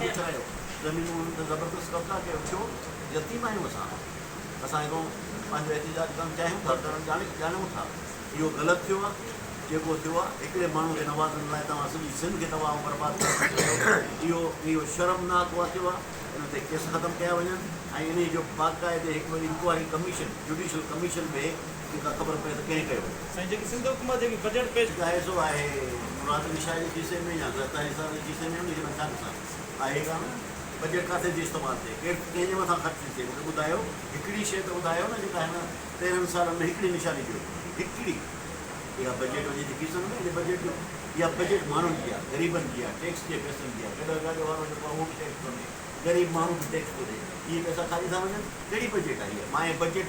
ڪجهه رهيو، زمينون انهن تي زبردست قبضا ڪيو ڇو؟ يتيم آهيون اسان، اسان هڪڙو پنهنجو احتجاج ڪرڻ چاهيون ٿا، ڪرڻ ڄاڻيون ٿا، اهو غلط ٿيو آهي، جيڪو ٿيو آهي، هڪڙي ماڻهو کي نوازڻ لاء توهان سڄي سنڌ کي تباهه ۽ برباد ڪرڻ ٿا چاهيو، اهو شرمناڪ واقعو آهي، ان تي ڪيس ختم ڪيا وڃن ۽ انهي جو باقاعدي هڪڙو انڪوائري ڪميشن، جڊيشل ڪميشن، به جي ڪا خبر پئي ته ڪنهن ڪيو هو. سائين جيڪي سنڌ حڪومت جيڪي بجيٽ پيش. ڪيو آهي سو آهي مراد علي شاهه جي کيسي ۾ يا زرداري صاحب جي کيسي ۾ انهي کي نقصان ڇا آهي ڪا نه ته بجيٽ ڪاٿي ٿي استعمال ٿئي ڪير ڪنهن جي مٿان خرچ ٿي ٿئي مونکي ٻڌايو هڪڙي شئي ته ٻڌايو نه جيڪا هن تيرهن سالن ۾ هڪڙي نشاني ڏيو هڪڙي اها بجيٽ وڃي ٿي کيسن ۾ ان بجيٽ جو اها بجيٽ ماڻهن جي آهي غريبن جي آهي ٽيڪس جي پئسن جي آهي گڏهه گاڏي وارو جيڪو آهي اهو به ٽيڪس ٿو ڏي غريب ماڻهو به ٽيڪس ٿو ڏي اهي پئسا ڪاڏي ٿا وڃن ڪهڙي بجيٽ آهي اها مائي بجيٽ.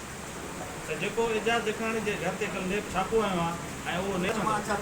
ته جيڪو اعجاز جکاڻي جي گهر تي ڪل نيب ڇاپو هنيو آهي ۽ اهو نيب ڇنڊ.